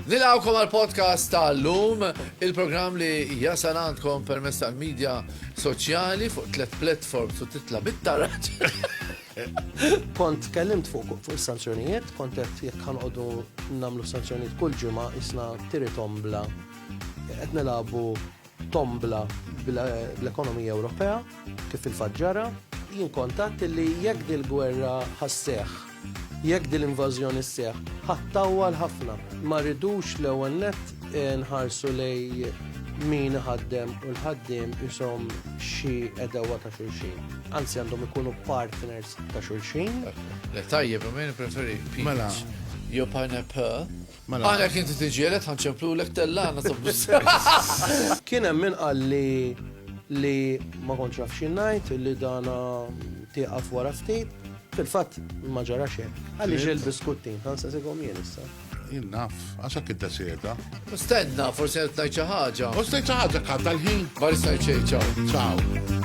Nilawkom għal podcast tal-lum, il-program li jasal għandkom permess tal-medja soċjali fuq tlet platform su titla bit-taraġ. Kont tkellimt fuq fuq is-sanzjonijiet, kont qed jekk ħanqogħdu nagħmlu sanzjonijiet kull ġimgħa isna tiri tombla qed nilagħbu tombla bl-ekonomija Ewropea kif il-faġġara. Jien kontatt li jekk dil-gwerra ħasseħ, jekk dil-invażjoni sseħħ, ħattawwal ħafna. Ma rridux l-ewwel nett nħarsu lejn min iħaddem u l-ħaddiem ishom xi għedewwa ta' xulxin. Anzi għandhom ikunu partners ta' xulxin. Le tajjeb, imma jien preferi peach. Mela. Jew pineapple. Mela. Għana kien tiġielet ħanċemplu l-ek tellana tabbus. Kien hemm min qal li li ma kontx naf xi ngħid li dana tieqaf wara ftit. Fil-fatt ma ġara xejn. Għaliex il-biskuttin ħansesikom jien issa. Jien naf, għax hekk iddeseda. Stenna, forsi qed ngħid xi ħaġa. U stajt xi ħaġa kant tal-ħin. Bari stajt xejn ċaw. Ciao.